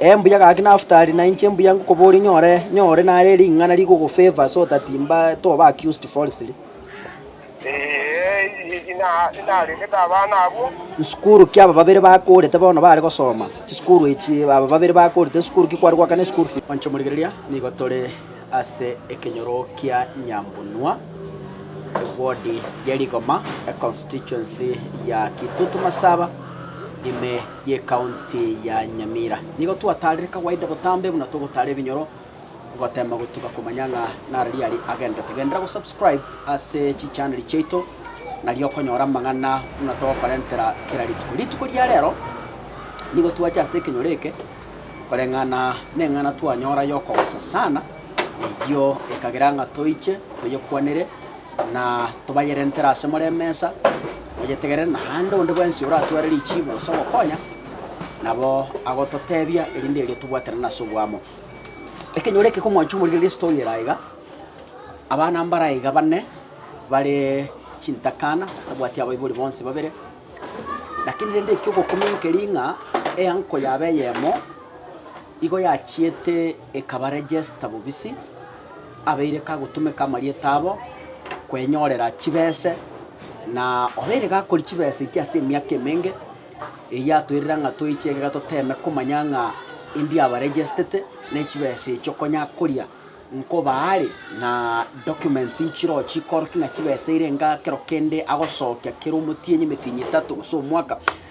Ee mbuya gaki Naftali, na inche mbuya ngokoboria nyore nyore nare ring'ana rigogofavor so that mba toba accused falsely. Nsukuru ki aba babere bakorete bono bare gosoma? Chisukuru echi aba babere bakorete nsukuru ki kware goakana esukuru fees? Inche omorigereria, nigo tore ase ekenyoro kia Nyambunua, eward ye Rigoma, econstituency ya Kitutu Masaba, ime. y'Ekaonti ya Nyamira. Nigo twataarire kawaida botambe buna togotaara ebinyoro goteema gotuga komanya ng'a nara riari agenderete. Genderera gosubscribe ase chichaneli chiaito nario okonyora amang'ana buna togokorentera kera rituko. Rituko ria rero nigo twache ase ekenyoro eke koreng'ana neng'ana twanyora y'okogosasana eyio ekagera ng'a toiche toyekwanere. na tobayerentere ase more emesa, oyetegerere naende onde bwensi oratware richiibo gose ogokonya, nabo agototeebia, erinde erio tobwatanane ase oboamo. Ekenyoro eke k'omwancho omorigereria ase toiyo ere aiga, abana mbare aiga bane bare chintakana, tabwati abaibori bonsi babere, lakini rende ekio ogokumi nkeri ng'a eanko yabo eyemo igo yachiete ekaba register bobisi. Abeire kagotumeka amarieta abo kwenyorera chibese, na obeire gakori chibese echi ase emiaka emenge, eyio atoirera ng'a toiche egeka toteeme komanya ng'a endi aba regestete ne chibese echi okonya koria nkoba are na documents nchiroo chikorokia ng'a chibese eire enga kero kende agosokia kera omotienyi emetienyi etato gose omwaka.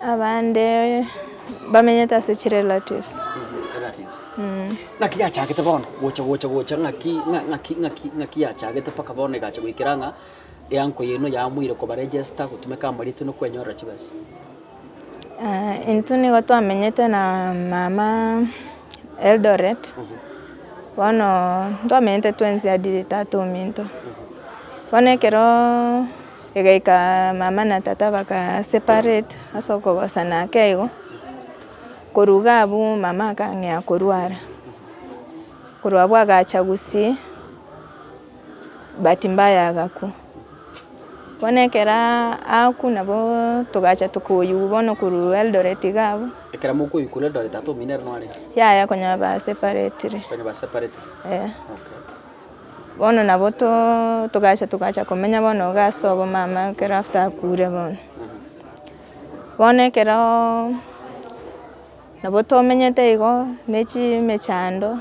Abande bamenyete ase chirelatives. Relatives Mmh. Ng'aki yachagete bono gocha gocha gocha ng'aki ng'a ng'aki ng'aki ng'aki yachagete mpaka bono egacha goikera ng'a eango eye no yamoire koba register gotumeka amaritwe no kwenyorera chibesa? Aah intwe nigo twamenyete na mama Eldoret, bono ntwamenyete twensi hadi tata ominto. Bono ekeroo. Egaika mama na tata bagaseparate ase okogosana ake igo, koruga abwo mama akang'ea korwara, korwa abwo agacha gusii bahati mbaya agakwa. Bono ekero akwa nabo togacha tokoyigwa bono korwa Eldoret iga abwo. Ekero mokoyigwa korwa Eldoret atominerwe nore iga? Yaya konya baseparetire. Konya baseparetire? Eeh. Okay. Bono nabo too togacha togacha komenya bono iga ase obomama ekero after akure bono. Bono ekeroooo nabo tomenyete igo ne chimechando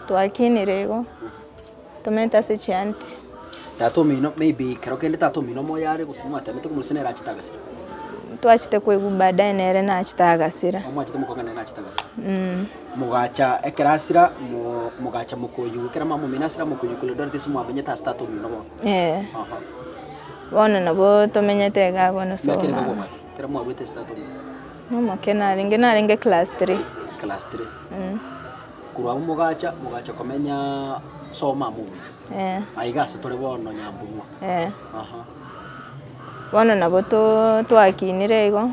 twakinire igo tomenyete ase chianti. Tata omino maybe ekero kende tata omino moyo are gose mwatanete bono gose nere achete agasira. Twachete koigwa baadaye nere nachete agasira. Omwachete mokong'ana nere nachete agasira. Mmmh. Mogacha ekero asira, mogacha mokoyigwa ekero mwamomina asira mokoyigwa korende ore tese mwamenyete ase tata omino bono. Ee. Bono nabo tomenyete iga abwo na Miaka ere Solomon. nomobare ekero mwabwete ase tata omino? Nomoke narenge, narenge class three. Class three. Mm. Korwa abwo mogacha, mogacha komenya Soma amo omino. Ee. Aiga ase tore bono Nyambumwa. Ee. Aha. Bono nabo too twakinire igo,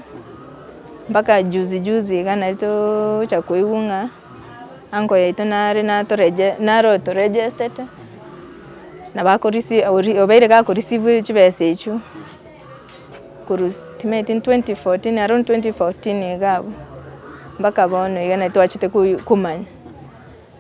mpaka juzi juzi iga nari toocha koigwa ng'a uncle yaito nare natorege nare otoregestete, na bako risi ori obeire gakorisivu chibesa echio, korwa estimate in twenty fourteen around twenty fourteen iga abwo, mpaka bono iga nari twachete koi komanya.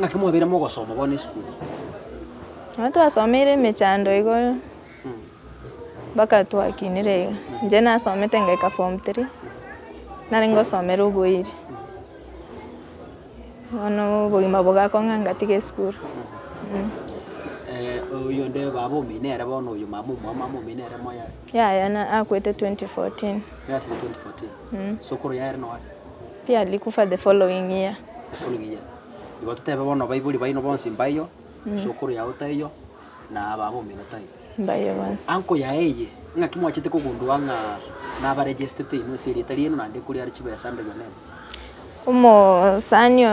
Ng'aki mwabeire mogosoma bono esukuru? Nabo twasomeire emechando igoro mpaka twakinire iga. Inche nasomete ngaika form three, nare ngosomera oboiri. Bono obogima bogakong'a ngatiga esukuru. oyonde baba omino ere bono oyo mama omwao mama omino ere moyo are? Yaya na- akwete twenty fourteen. Yasire twenty fourteen. Sokoro yaye ere nowaria? Pierre likufa the following year. The following year. Igo totebe bono abaibori baino bonsi mbaio, isokoro yao taiyo, na ababo omino taiyo. Mbaio bonsi. Uncle yaye eye, ing'aki mwachete kogundua ng'a naba registete inwe ase erieta riaino naende ekori are chibesa mberi ya Memo? Omosani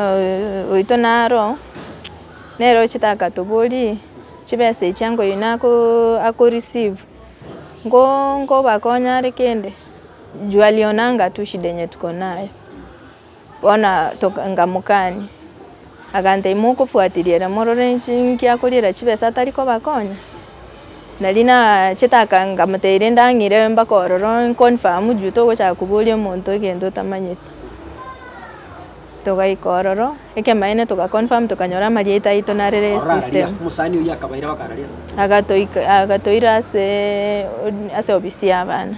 oito naro, nere ochete akatoboria, chibesa echi uncle oino ako receive, nko nkobakonye are kende? Jua lionanga tu shida enye tuko nayo. Bono toka nkamokania, aganta imokofuatilia ere morore inche inki akoriera chibesa atari kobakonya? Nari nachete aka nkamotebiria ndang'ire mpaka ororo nkonfamu juu togochaka koboria omonto egento otamanyeti. Togaika ororo, ekemaene togakonfam tokanyora amarieta aito narere esystem. Omosani oyio akabaira bakarara. Agatoika agatoira asee ase obisi y'abana.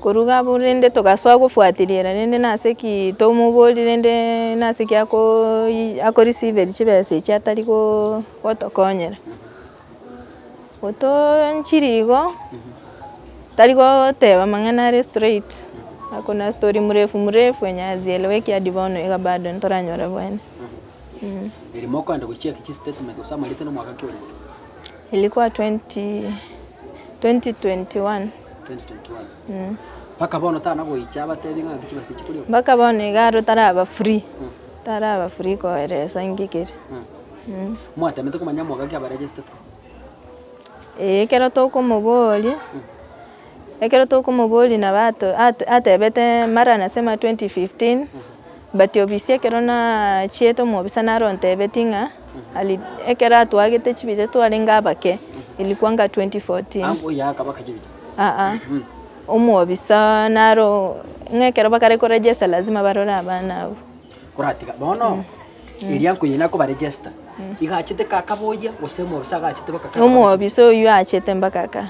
Koruga abwo rende togasoa gofuatiriera rende nase ki tomoborie rende nase ki akoyi ako receive-ri chibesa echi atari go gotokonyera. Gotoonchiri igo, tari goteba amang'ana are straight, akona story mrefu mrefu enya azielewe eki hadi bono iga bado ntoranyore bwene mmh. Erimo okogenda gocheck chistatement gose amarita na omwaka ki orenge? Ilikuwa twenty twenty twenty one. 2021 mpaka bono tana goicha abatebi ng'a nki chibasiche koria okwo. Mpaka bono iga aro taraba free, taraba free koeresa nki keria. Mwatemete komanya mwaka ki abaregestete? Ee ekero tokomoboria, ekero tokomoboria nabo ato ate atebete mara nasema 2015, Batiobisia ekero nachiete omobisa naro ontebetie ng'a ali ekero atwagete chibicha twarenge abake elikwa nga 2014 aa omwobisa naro ng'a ekero bakare ko register lazima barore abana abwo. Koratiga bono eria nkoyia nakoba register igachete kaka boyia gose omobisa agachete baka kaka Omwobisa oyio achete mbaka aka.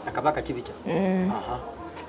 Akabaka chibicha.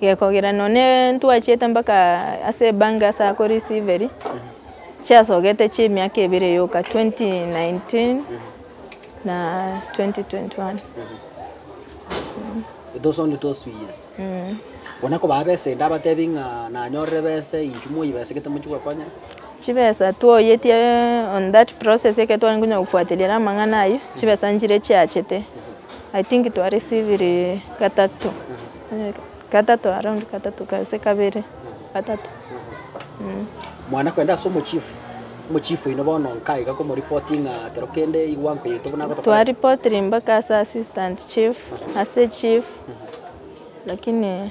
Gekogera nonye ntwachiete mpaka ase ebango ase akorisiveri chiasogete chia emiaka ebere yoka 2019 na 2021 Those only those two years. Bono koba abesa inde abatebi ng'a nanyorire besa eye inchuo moyie besa gete mochie gokonya. Chibesa twaoyetie on that process ekero tware konya gofuatiliria amang'ana ayio chibesa nchire chiachete I think twa receiviri gatato. Gatato around gatato gose kabere gatato mmh. Mwana kwenda ase omochief omochief oino bono nka iga komoripoti ng'a kero kende igwa nkoyete buna agotokora. Twaripotiri mpaka ase assistant chief ase chief lakini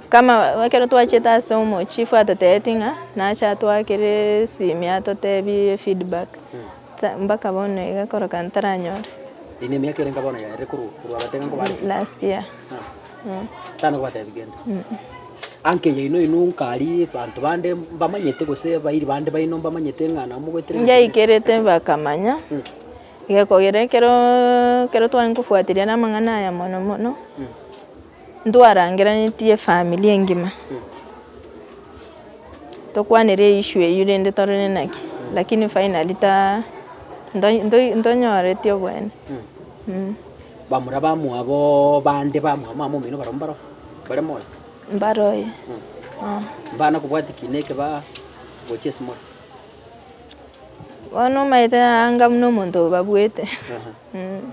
kama ekero twachete ase omochief atotebeti ng'a nache atwakere esimi atotebi feedback. Mpaka bono iga koroka ntaranyore. Eye nemiaka ere nka bono yaerire korwa korwa abatega nko bare ki? Last year. Mm. Tana kobatebi gento. Anke yaino inwe nkari banto bande mbamanyete gose bairi bande baino mbamanyete ng'a nabo mogoeterera ekeene. Ngaikerete bakamanya, iga kogera ekero ekero tware nkofuatiria ere amang'ana aya mono mono. Ntwarangeranetie efamiri engima, tokwanire eissue eyio rende tore nenaki, lakini finally ta nto- nto- ntonyoreti oboene mm. Bamura bamwabo bande bamwabo mama omino barabwo mbaro bare more? Mbaroe ah. Mbana kobwati ki neke ba gochia ase more? Bono omaete anga buna omonto obabuete mm.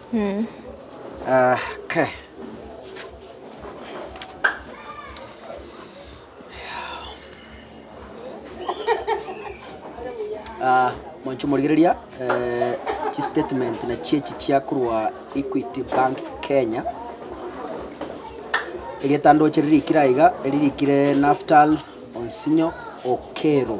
Monto morigereria chistatement nachio echi chia korwa Equity Bank Kenya. Erieta ndoche ririkire aiga, eririkire Naftal Onsinyo Okero.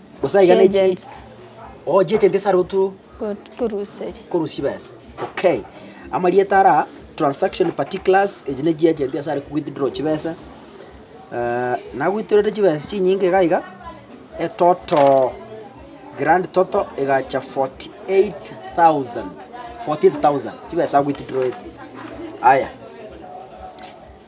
Gose aiga ne chi Chiagents. oh chiagent ase arotu Ko- Koruseria. korusi besa okay amarieta ara transaction particulars echi ne chiagent ase are withdraw chibesa Eh, nagwitorete chibesa chinyinge iga iga etoto grand toto egacha 48000 14000 chibesa agwitidroete aya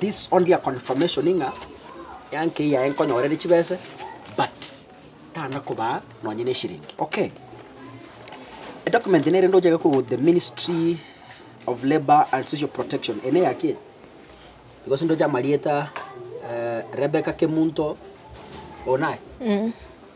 This only a confirmation ng'a yanke eyaye nkonyorere chibese but tana kobaa nonye ne eshiringi okay. E document nere ndochake korwa the ministry of labour and social protection eye neyaki eye because ndoche amarieta eh, Rebecca Kemunto oyo naye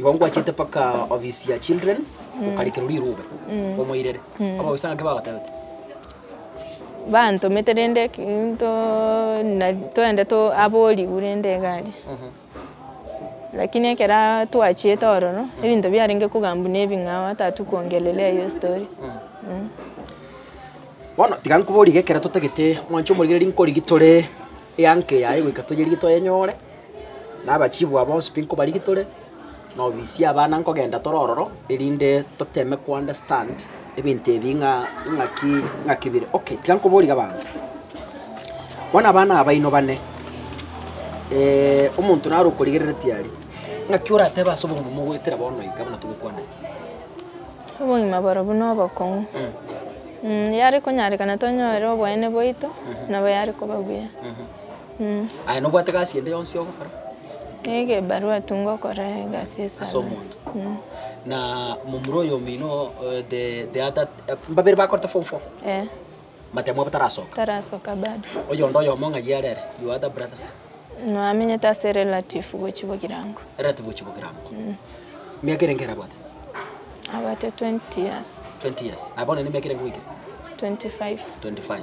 Igo ngwachete mpaka ofisi ya children's gokarikerwa rirube omoirere. Abagoisa ng'ake bagotebete. Bantomete rende ki- nto na- toende to abo origwe rende egari. Lakini ekero twachiete ororo, ebinto biarenge kogamba buna ebing'ao hata hatukuongelelea hiyo story. Bono tiga nkoborie iga ekero totagete mwancha omorigereria nkorigia tore eango eyaye goika toyerigie toyenyore. Na abachibwa bonsi pi nkobarigi tore nobisia abana nkogenda tore ororo, erinde toteme ko understand ebinto ebi ng'a ng'aki ng'aki bire. Okay, tiga nkoborie abanto. Bono abana aba baino bane, omonto naro okorigerereti aria, ng'aki oratebe ase obogima mogoetera bono iga buna togokwana iga? Obogima borobwo na obokong'u. Yare konyarekana tonyore oboene bwaito, nabo yare koba buya. Aye nobwate gasi ende yonsi ogokora Nigo ebarua tu ngokora egasi ase esabari. omonto? Na momura oyo omino eh, the, the other, eh, mbabere bakorete form four, Eh, matemo abo tarasoka. tarasoka bado. Oyonde oyomo ng'a yare are, your other brother, Noamenyete ase relative gochia Bogirango. relative ochi Bogirango. Miaka erenge ere abwate? Abwate 20 years, 20 years. Aye bono nemiaka erenge goikire? 25. 25.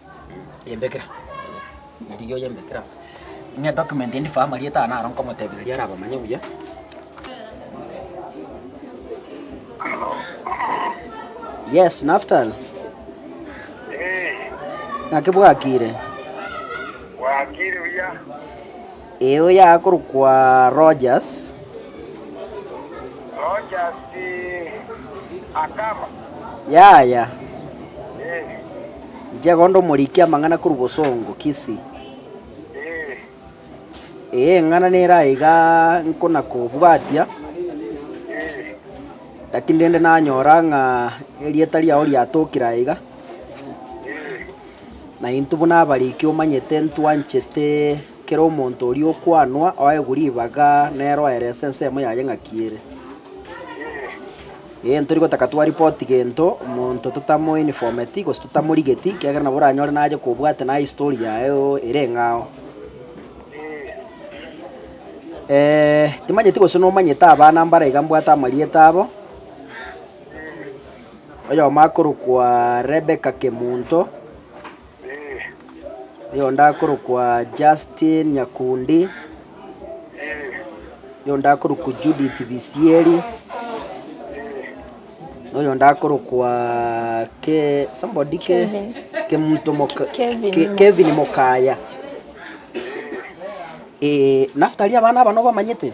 yembekera rigiya oyembekere amo. Ng'a document endi faa amarieta aa naro nkomotebia riria arabamanye buya. Yes, Naftali. Ng'aki bwakire? Bwakire buya. Ee, oyakorokwa Rogers. Rogers akama. Yaya. Ee. Inche gonda omoriki amang'ana korwa Bosongo, Kisii. Ee. Ee, eng'ana nere aiga nkonakobwatia. Ee. Lakini rende nanyora ng'a erieta riao riatokire aiga. Ee. Naintwe buna abariki omanyete ntwanchete kera omonto oria okwanwa oegwe ribaga nere oerese ensemo yaye ng'aki ere. Ee, ntori gotaka twaripoti gento omonto totamoinformeti gose totamorigeti ekiagera nabo oranyore nache kobwate naye history yaye erenge ao. Timanyeti gose nomanyete abana mbare iga mbwate amarieta abo. Oyomo akorokwa Rebecca Kemunto, oyonde akorokwa Justine Nyakundi, oyonde akorokwa Judith Bisieri, na oyonde akorokwa ke somebody ke Kevin. Kemunto Moka Kevin Ke- Moka. Kevin Mokaya. Eh, Naftali abana aba nobamanyete?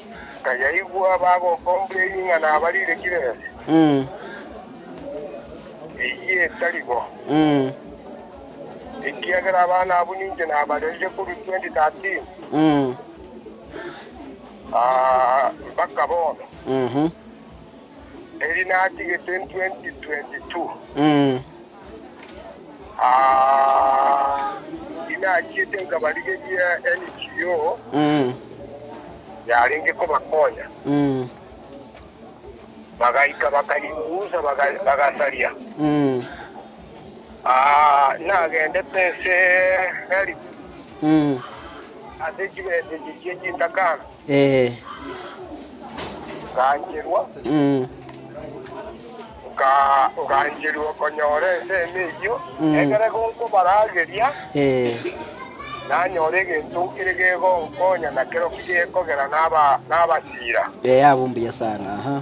Nkayaigwa bagokombia ering'ana barire kiresi, eyio etari bo, ekiagera abana abwo ninche nabarerire korwa 2013 mpaka bono, eri natigete 2022. Tinachiete nkabarigeria NGO yarenge kobakonya, bagaika bakarikunsa bagasaria. Nagendete ense Help ase chibesa echi chi'enchitakano. Ee. Ogaancherwa, ogaancherwa okonyora ensemo eyio, ekero gonkobarageria, nanyore egento kere gegonkonya na kero ki gekogera naba nabasira. Ee, abwo mbuya sana, aha.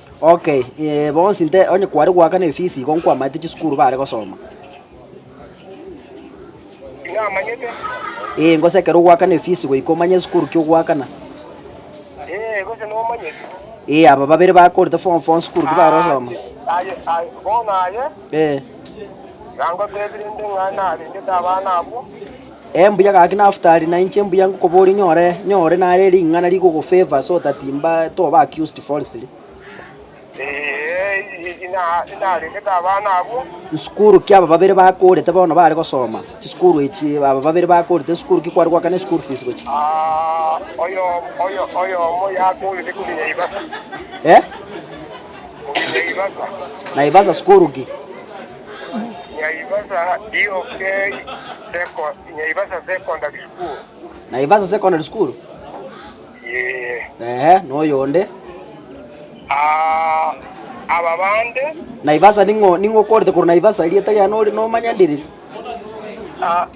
Ok, eh, bonsi nte onye kware goaka na efisi igo nkwamaete chisukuru bare gosoma. Tinamanyete. Eh, ngosekera ogoaka na efisi goika omanye esukuru ki ogoakana. Eh, gose nomanyete. Eh, aba babere bakorete form four sukuru ki bare gosoma. Aye, aye, bono aye, Eh, nangotebire nde ng'a narengete abana abwo, Ee mbuya gaki Naftali, na inche mbuya ngokoboria nyore nyore nare ring'ana rigogofavor so that mba toba accused falsely. Nsukuru ki aba babere bakorete bono bare gosoma? Chisukuru echi aba babere bakorete nsukuru ki kware goakana eschool fees gochia? Naivasa sukuru ki? Nyaibasa Secondary School. Naivasha Secondary School? Yee. Ehe, noyonde. Ah, aba bande. Naivasha ning'o ning'o okorete korwa Naivasha erieta riane ori nomanya ndiri? Ah,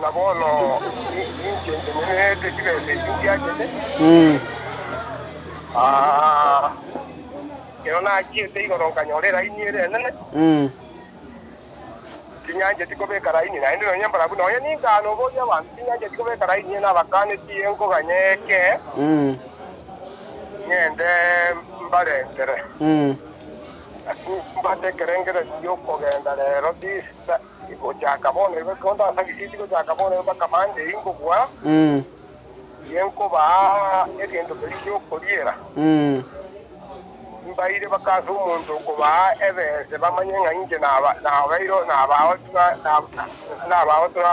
Na bono ninki enkenyererete chibesa echi ndiachete? Ekero nachiete igoro nkanyora eraini ere enene, tinyancheti kobeka raini naende nonya embarabu nonya ninka noboria abanto, tinyancheti kobeka raini eye nabakanetie iga nkoganya eke ng'ende mbarentere. Lakini mbwate ekerengererio gi'okogenda rero tisa. Gochaka bono igo ekero ndasarisie tigochaka bono igo mpaka mande inkobua, tinkobaa egento keria gi'okoriera. Mbaire mpaka ase omonto okobaa ebese bamanye ng'a inche nabaire nabao tuna nabao tuna.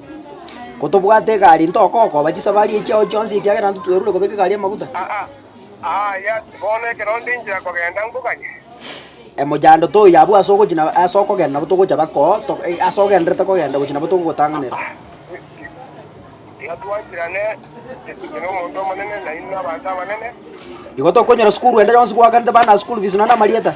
Kotobwate egari ntokokoba chisabari echi chiao chionsi ekiagera intwe twerure kobeka egari amaguta. Emochando toiyo abwo ase ogochia na ase okogenda nabo togocha bako ase ogenderete kogenda gochia nabo togogotanganera. Igo tokonyora sukuru ende yonsi gwakanete bana school fees nonya na amarieta.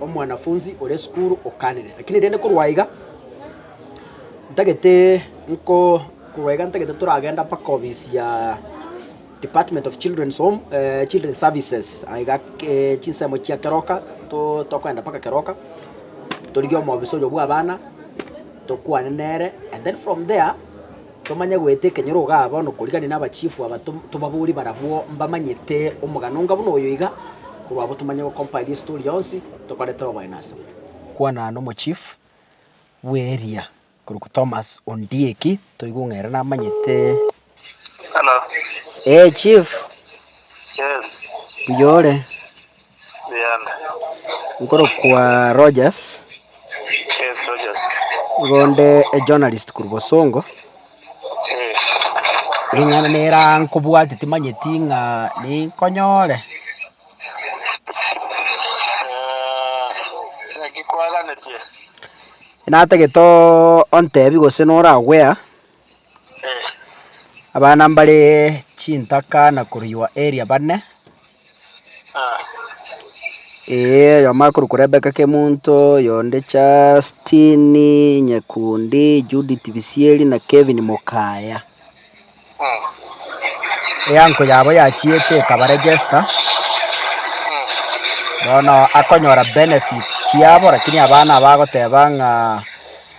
Omwanafunsi oria esukuru okanire, lakini rende korwa iga ntagete nko korwa iga ntagete toragenda mpaka obisi ya Department of Children's Home Children's Services aye iga ke chinsemo chia keroka to tokoenda mpaka keroka torigie omobisa oyo bw'abana tokwane nere and then from there. Tomanye goeta ekenyoro iga aba nokorigania nabachifu aba tobabori barabwo mbamanyete omogano onga buna oyo iga, korwa abwo tomanye gocompile history yonsi tokore tore oboyene asemo. Kwana nomochief bw'eria korokwa Thomas Ondieki toigwe ng'a ere namanyete. Hello. Eeh chief. Yes. Mbuya ore? Nkorokwa Rogers. Yes, Rogers. Igo nde ejournalist korwa Bosongo. Eh. Ring'ana nera nkobwate timanyeti ng'a ninkonyore. Naki kwaganetie? Natagete ontebi gose nora aware. Abana mbare chintaka na koruywa area bane, eeh oyomo akorokwa Rebecca Kemunto, oyonde Justine Nyekundi, Judith Bisieri na Kevin Mokaya. Eango yabo yachiete ekabaregesta, bono akonyora benefits chiabo, lakini abana abagoteba ng'a.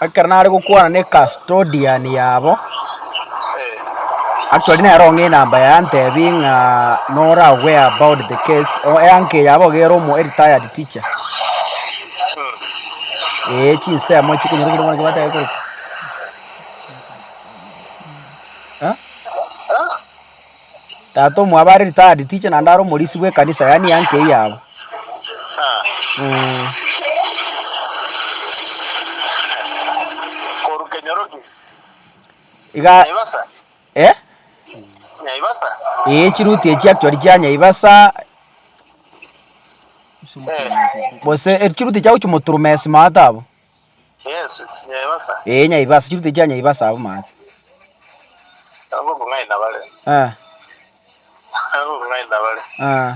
Ekero nare gokwana ne custodian yabo, actually nero ng'a enamba yaye antebi ng'a nora aware about the case o eank yabo gere omo a retired teacher ee chinsemo chikonyorokire bono chibatebe kore Eh? Tata omwabo are retired teacher naende are omorisi bw'ekanisa yaani uncle yabo. Ah, Mm. koru kenyoroki. Iga Naivasa, eh? Naivasa. Ee chiruti echi actually chia Nyaibasa Eh, gose eh, chiruti chiao chimoturumesi maata abo. Ee, nyaibasa, chirute chia nyaibasa abwo maate. Eh, eh,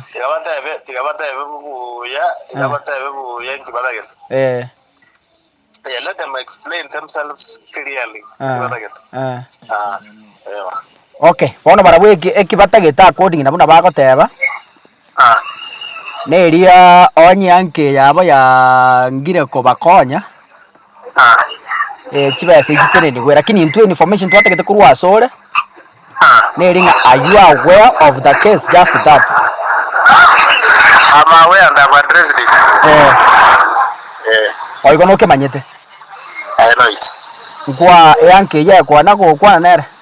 eh, eh. Okay, bono barabwo eki- ekibatagete according na buna bagoteba. Neria onye enke yabo yangire kobakonya, chibesa echi tenenigwe, rakini intwe information twatagete korwa asore, neri ng'a are you aware of the case just that? Eh. Oyo igo nokemanyete. Nkwa eanke eyio ekwana gokwana nere.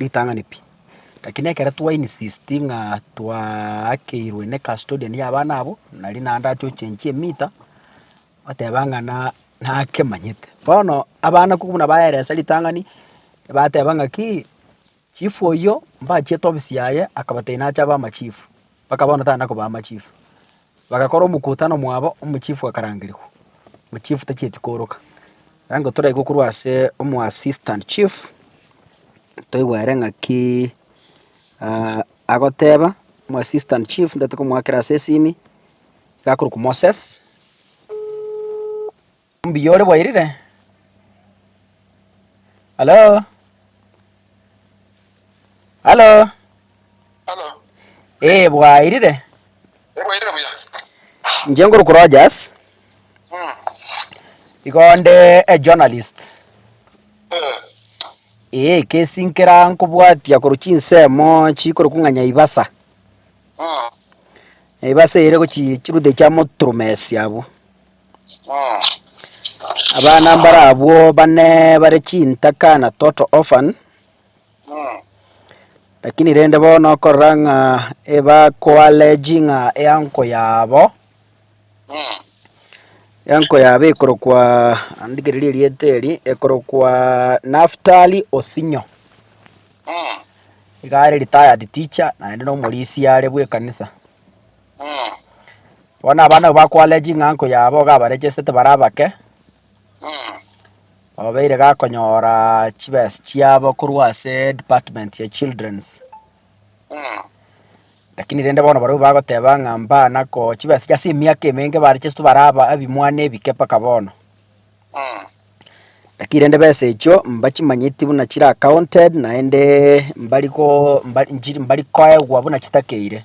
Ritang'ani pi. Lakini ekero twainsisti ng'a twaakeirwe ne custodian y'abana abwo, nari naende achochenchie emita, bateba ng'a na nakemanyete. Bono abana ko buna baeresa ritang'ani, bateba ng'aki, chief oyio mbachiete ofisi yaye akabatebia nache abe amachief. Mpaka bono tari nakobaa amachifu. Bagakora omokutano mwabo, omochifu akarangerigwa. Omochifu tachieti kooroka. Igo toraigwe korwa ase omoassistant chief, toigwe ere ng'aki agoteba, omoassistant chief ndatokomoakera ase esimi, iga akorokwa Moses. Mbuya ore bwairire? Halo? Halo? Halo? Ee, bwairire? Ee, bwairire buya. Inche nkoruku Rogers. Mm. Igo nde a journalist. Eh. Ee, kesinkera nkobwatia koru chinsemo chikoruku ng'a Nyaibasa. Mm. Nyaibasa ere gochi chirude chia Moturumes abwo. Abana mbarabwo bane bare chintaka na total orphan lakini rende bono okorora ng'a ebakoaleji ng'a eanko yabo eanko yabo ekorokwa andikereri erieta eri ekorokwa Naftali Osinyo iga are retired teacher naende nomorisia are bw'ekanisa. Bono abana abwo bakwarire ching'anko yabo iga abaregestete bare abake, obeire gakonyora chibesa chiabo korwa ase department ya children's. Lakini rende bono barobwo bagoteba ng'a mbana ko chibesa chia ase emiaka emenge baregesetwe bare aba ebimwana ebike mpaka bono. Lakini rende besa echio mbachimanyeti buna chire accounted naende mbari go mbari nchiri mbari koegwa buna chitakeire.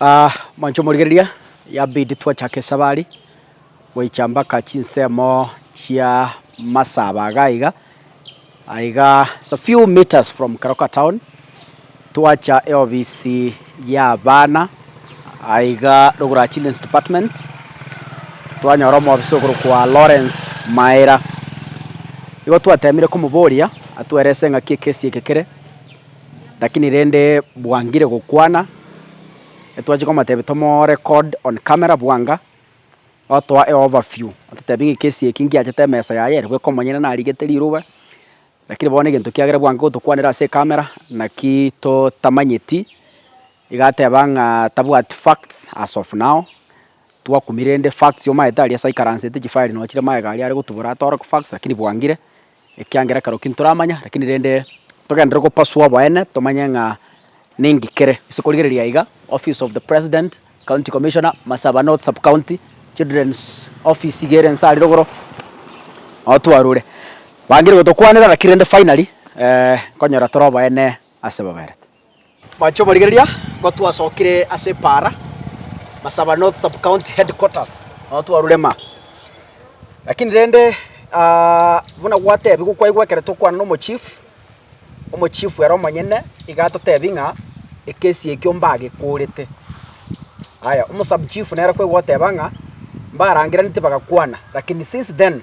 Aa, manche omorigereria, yabidi twachake esabari goicha mbaka chinsemo chia Masaba iga iga, aiga it's a few metres from Keroka town, twacha eofisi y'abana aiga rogoro children's department, twanyora omobisa okorokwa Lawrence Maera. Igo twatemire komoboria atwerese ng'aki ekesi eke kere. Lakini rende bwangire gokwana, etwachia komotebia tomorecord on camera bwanga, otoa e overview, ototebia ng'a ekesi eke ngiachete emesa yaye ere bweka omonyene narigete riroba, lakini bono egento kiagera bwango gotokwanera ase ecamera naki totamanyeti, iga ateba ng'a tabwati facts as of now, twakumire rende facts omaete aria ase aikaransete chifile nochire magega aria are gotubora atoroki facts lakini bwangire. ekiagera ekero ki ntoramanya, rakini rende togenderere gopasua boene tomanye ng'a ning'ki kere. Ase korigereria iga, office of the president, county commissioner, Masaaba North sub county, children's office iga ere inse aria rogoro, nao twarure. Bangire gotokwanera rakini rende finally, nkonyora tore oboene ase baberete. Mwanche omorigereria, kotwasokire ase Paara, Masaba North Sub-County Headquarters, nonya twarurema. Lakini rende buna gwatebiwa kwaigwa ekero tokwana na omochief, omochief ere omonyene iga atotebia ng'a ekesi ekio mbagekorete. Aya, omo sub-chief nere kwaigwa oteba ng'a mbarangeraneti bagakwana, lakini since then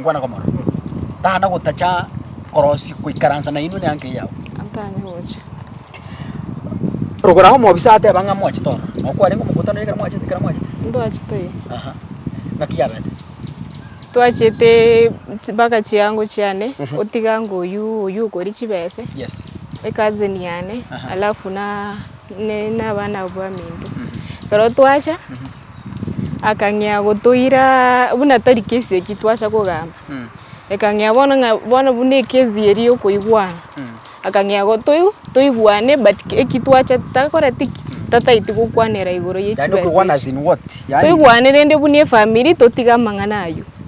Nkwana komorora. Tana gotacha korosia goikaransa nainwe ne anke yao. Antanye gocha. Rogorago omobisa ateba ng'a mwachete ororo. Nao kwarenge omokutano ekero mwachete ekero mwachete. Ntwachete oye. Aha. Naki yabete. Twachete mpaka chiango chiane otiga ngo oyu oyu okori chibese. Yes. Ekazi niane. Alafu na. ne nabana bwaminto. Ekero twacha akang'ea gotoira buna tari kesi eki twacha kogamba ekang'ea bono ng'a bono buna ekesi eri ya okoigwana akang'ea gotoigwa toigwane but eki twacha takoreti ki tataeti gokwanera igoro ya Yaani chibesa okogwana as ichi in what? Yaani toigwane rende buna efamiri totige amang'ana aywo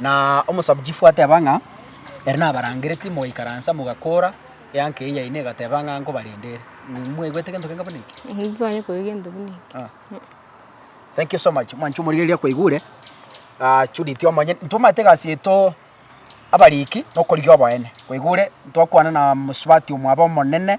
Na omosabuchifu ateba ng'a, Ere nabarangereti, mogaikaransa, mogakoora, eanka eyio yaino egateba ng'a nkobarenda ere. Mwegwete gento gento buna eke? Nintware koigwa gento buna eke. Thank you so much mwancha omorigereria akwaigure. Ah, Judith omonyene, intwe omanyete egasi yaito abariki nokorigia oboene, kwaigure, ntwakwana na mosubati omwabo omonene.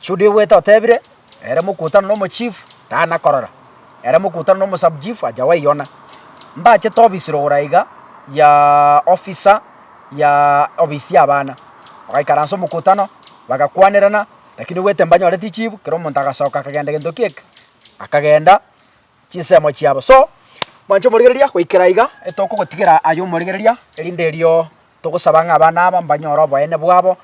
Chudi ogwete otebire, Ere mokutano nomochifu, tana korora. Ere mokutano nomosabuchifu, acha gwaiona. Mbachete obisi rogoro aiga ya ofisa ya obisi y'abana. Bagaikaransa omokutano, bagakwanerana, rakini ogwete mbanyore tichibu, kera omonto agasoka akagenda gento kieka, akagenda chinsemo chiabo. So, mwanche omorigereria goikera iga, etokogotigera aye omorigereria, erinde erio togosaba ng'a abana aba mbanyore oboene bwabo,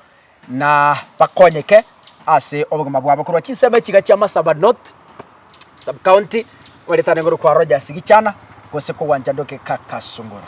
na bakonyeke ase obogima bwabo korwa chinsemo echi iga chia Marsabit North sub county, oretane korokwa Rogers Gichana, gose kogwancha Nduki Kakasungura.